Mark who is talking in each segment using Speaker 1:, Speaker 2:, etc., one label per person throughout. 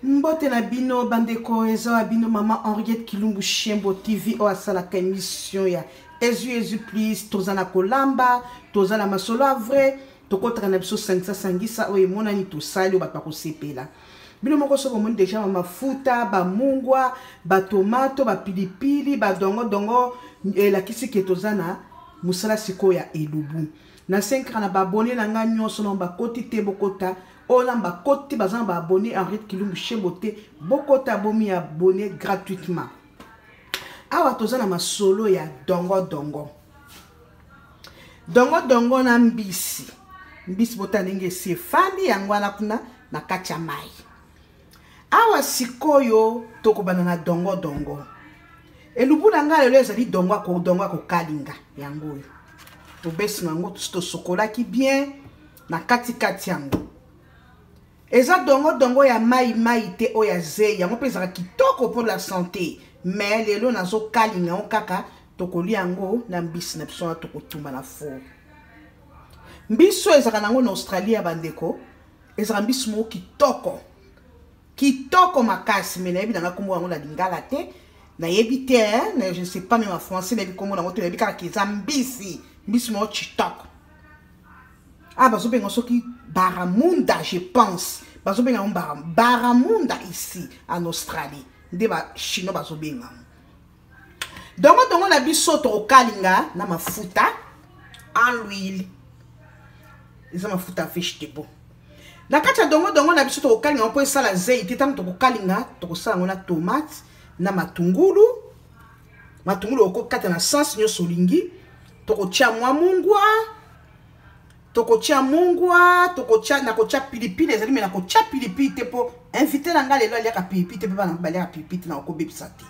Speaker 1: mbote na bino bandeko eza ya bino mama henriette kilumbu shembo tv oyo asalaka émission ya ezu ezu plus toza na kolamba toza na masolo ya vrai tokotaka na biso sangisa sangisa oyo emonani tosali oyo bato bakosepela bino moko soki omoni deja bamafuta bamungwa batomato bapilipili badongodongo elakisi ke toza na mosala sikoyo ya elubu na senkaka na babone na ngai nyonso na bakoti te bokota oyo na bakoti baza na baabonne henriette kilumbu shembo te bokota bomi abonne gratuitement awa toza na masolo ya dongo dongo dongo dongo na mbisi mbisi bota ndenge esi efandi yango wana kuna na kati ya mai awa sikoyo tokobanda na dongo dongo elubu na ngai lelo ezali dongo dongo akokalinga yango oyo obesi na yango tosokolaki bien na katikati yango eza dongodongo ya mai mai te oyo ya zei yango mpe ezalaka kitoko mpo la sante me lelo nazokalinga yango kaka tokolia yango na mbisi na biso wana tokotumba na four mbisi oyo ezalaka nango na australie ya bandeko ezalaka mbisi moko kitoko kitoko makasi me nayebi nanga nkombo yango na lingala te nayebi te eh, je ne sais pas meme en français nayebi nkombo nango te nayebi kaka eza mbisi mbisi moko kitoko ah bazobenga soki baramunda je pense bazobenga yango bara baramunda ici en australie nde bachinois bazobenga yango dongodongo na biso tokokalinga na mafuta en l'huile eza mafuta fiche de bon na kati ya dongodongo na biso tokokalinga yango mpo esala zei te ntango tokokalinga tokosala yango na tomate na matungulu matungulu okokata na sens nyonso olingi tokotya mwa mungwa tokotya mungwa tokotya nakotya pilipili ezali me nakotya pilipili te mpo invité na ngai lelo aliaka pilipili te mpe bana baliaka pilipili te nakokobebisa te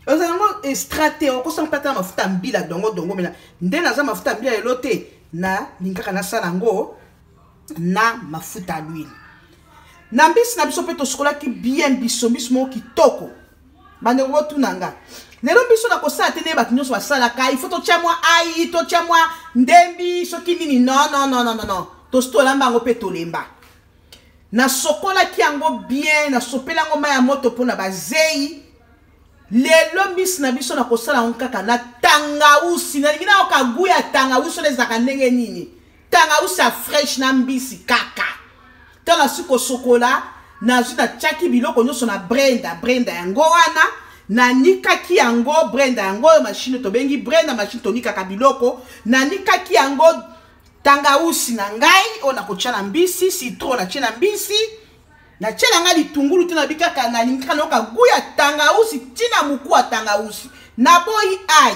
Speaker 1: oza yango estrate okosala mpe ata na mafuta ya mbila dongo dongo mena nde naza mafuta ya mbila lelo te nalingaka nasala yango na mafuta ya lwili na mbisi na biso mpe tosukolaki bien biso mbisi moko kitoko bandeko botuna nga lelo biso na kosala te nde bato nyonso basalaka ifo totya mwa ai totya mwa ndembi soki nini non non non non non tosi tolamba yango mpe tolemba nasokolaki yango bien nasopeli yango mai ya moto mpo na bazei lelo mbisi na biso na kosala yango kaka na tangausi nalingi nayoka gu ya tangausi oyo ezalaka ndenge nini tangausa fresh na mbisi kaka ntango nasi kosokola nazwi natyaki biloko nyonso na brenda brenda yango wana nanikaki yango brenda yango oyo mashine tobengi brenda mashine tonikaka biloko nanikaki yango tangausi na ngai oyo nakotya na mbisi citro natye na mbisi natye na ngai litungulu te nabi kaka nalingi kaka nayoka gu ya tangausi ntina moku ya tangausi naboyi ai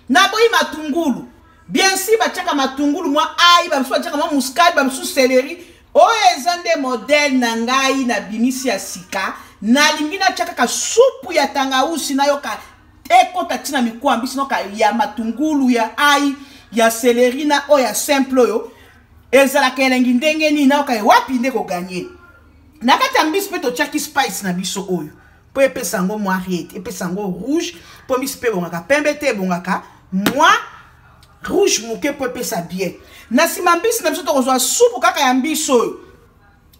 Speaker 1: naboyi matungulu bien si batiaka matungulu mwa ai bamisusu batiaka mwa muskade bamisusu seleri oyo eza nde modele na ngai na bimisi ya sika nalingi natya kaka supu ya tangausi nayoka ekota ntina mikuwa mbisi noka ya matungulu ya ai ya seleri na oyo ya simple oyo ezalaka elengi ndenge nini nayoka wapi nde koganye na kati ya mbisi mpe totyaki spice na biso oyo mpo epesa yango mwa riete epesa yango rouge mpo miso mpe ebongaka pembe te ebongaka mwa rouge moke mpo epesa bien na nsima mbisi na biso tokozwa supu kaka ya mbisi oyo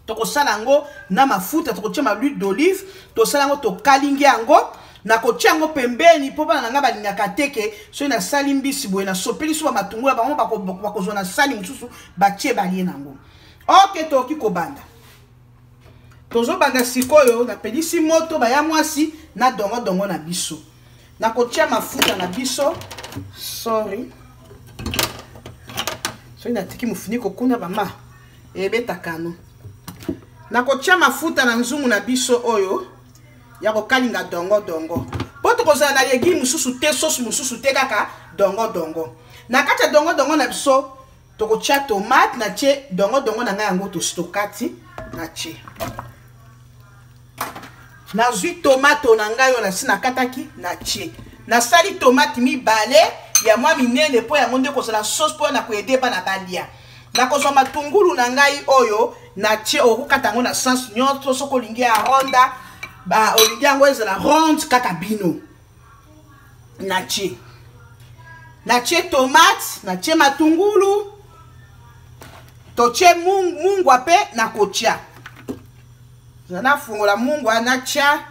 Speaker 1: tokosala yango na mafuta tokotia ma luile d'olive tosala yango tokalingi yango nakotia yango pembeni mpo bana na ngai balingaka te ke soki nasali mbisi boye nasopeli so bamatungula bango bakozwa na sani mosusu batie balie na yango oke tokoki kobanda tozobanda sikoyo napelisi moto baya mwasi na dongodongo na biso nakotya mafuta na biso sorry soki natiki mofuniko kuna mama ebetakano nakotya mafuta na nzungu na biso oyo ya kokalinga dongodongo mpo tokozala na legi mosusu te sosi mosusu te kaka dongodongo na kati ya dongodongo na biso tokotya tomate na tye dongodongo na ngai yango tostokati na tye nazwi tomato na ngai oyo nasi nakataki na tye nasali tomate mibale ya mwa minene mpo yango nde kozala sauce mpo na koyede bana balia nakozwa matungulu na ngai oyo na tie okokata yango na sens nyonso soki olingi ya ronda olingi yango ezala ronde kaka bino natie natie tomate natie matungulu totie mungwa mpe nakotya nafungola mungwa natya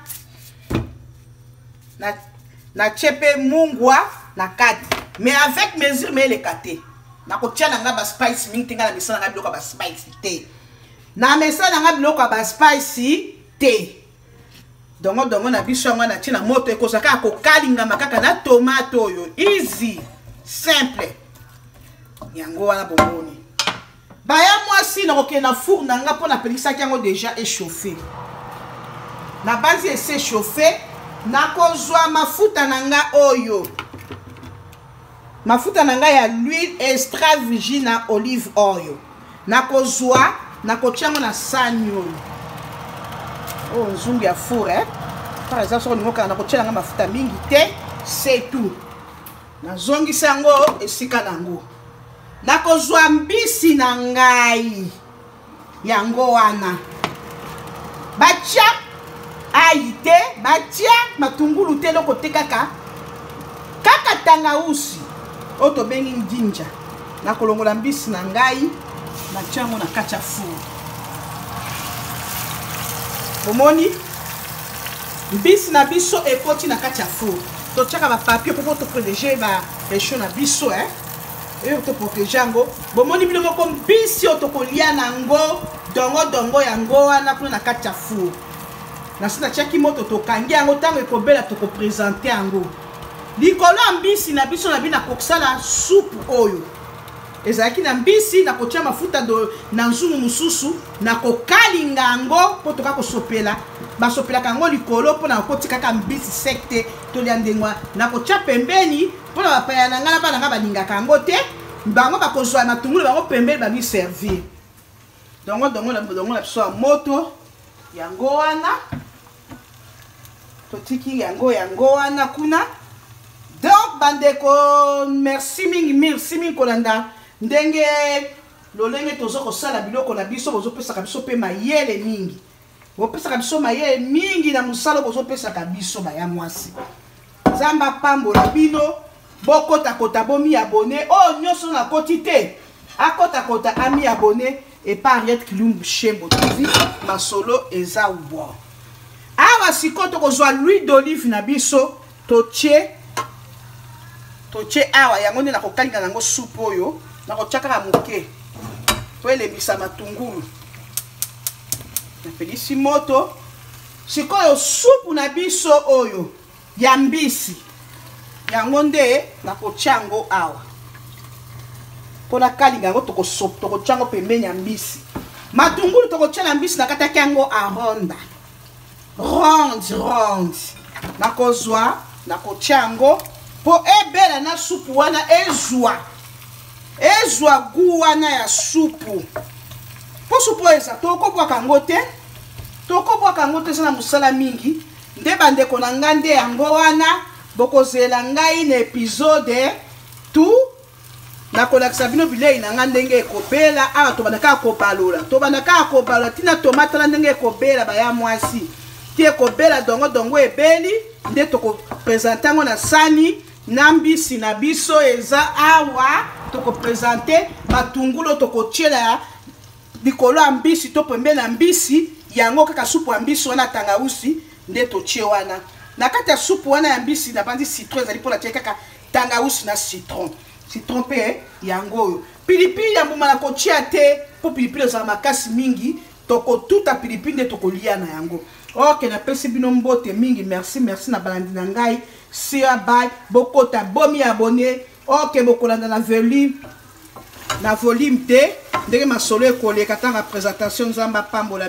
Speaker 1: natye mpe mungwa na kati mais avec mesure me eleka te nakotya na ngai baspice mingi te ngai na mesana ngai biloko ya baspice te na mesana ngai biloko ya baspice te dongo dongo na biso yango natie na moto ekozwa kaka kokalingama kaka na tomate oyo easy simple yango wana bomoni baya mwasi nakokende na four na nga mpo napelisaki yango deja echauffe nabanzi ese chauffe nakozwa mafuta na nga oyo mafuta na ngai ya l'huile extra virgina olive oil nakozwa nakotya yango na sani oyo oyo oh, nzungu ya four eh? par exemple soki olingi okanga nakotyela yango mafuta mingi te c'est tout nazongisa yango esika na yango nakozwa mbisi na ngai yango wana batya ayi te batya matungulu te eloko te kaka kaka tangausi oyo tobengi ndinja nakolongola mbisi na ngai natya yango na kati ya furu omoni mbisi na biso ekoti na kati ya furu totyaka bapapie mpo toprotege baresho na biso eh? oyo toprotege yango bomoni bino moko mbisi oyo tokolia na yango dongo dongo yango wana kuna na kati ya four na nso natiaki moto tokangi yango ntango ekobela tokopresente yango likolo ya mbisi na biso na bino nakokosala supu oyo ezalaki na mbisi nakotya mafuta na nzungu mosusu nakokalinga yango mpo toka kosopela basopelaka yango likolo mpo na kotikaka mbisi sek te tolya ndenge wana nakotya pembeni mpo na bapaya na ngai na bana ngai balingaka yango te bango bakozwa matungulu bango pembeni bamiservir dongo dongo na dongo na biso ya moto yango wana totiki yango yango wana kuna donc bandeko merci mingi merci mingi kolanda ndenge lolenge toza kosala biloko na biso bozopesaka biso mpe mayele mingi bopesaka biso mayele mingi na mosala bozopesaka biso baya mwasi nzambe apambola bino bokotakota bomi abone oyo oh, nyonso nakoti te akotakota ami abone epa henriette kilumbu shembo tv masolo eza wa awa sikoyo tokozwa louis d'olive na biso totie totie awa yango nde nakokalinga nango supu oyo nakotia kaka moke po elembisa matungulu napelisi moto sikoyo supu na biso oyo ya mbisi yango nde nakotya yango awa mpo nakalinga yango tokotya yango pembeni ya mbisi matungulu tokotyela mbisi nakataki yango aronda ronde ronde nakozwa nakotya yango mpo ebela na supu wana ezwa ezwa gu wana ya supu mpo supu oyo eza tokobwaka yango te tokobwaka yango te eza na mosala mingi nde bandeko na ngai nde yango wana bokozela ngai na epizode tout nakolakisa bino bilei na ngai ndenge ekobela awa tobanda kaka kobalola tobanda kaka kobalola ntina tomatala ndenge ekobela baya mwasi ti ekobela dongo dongo ebeli nde tokopresente yango na sani na mbisi na biso eza awa tokopresente matungulo tokotyela likolo ya mbisi to pembe na mbisi yango kaka supu ya mbisi wana tangausi nde totye wana na kati ya supu wana ya mbisi nabanzi citron ezali mpo natye kaka tangawusu na citron citron mpe yango oyo pilipili ya mbuma na kotia te mpo pilipili ezala makasi mingi tokotuta pilipili nde tokolia na yango ok napesi bino mbote mingi merci merci na balandi na ngai sia bay bokota bomi abone ok bokolanda na volume na volume te ndenge masolo ekoleka ntanga presentation nzambe apambola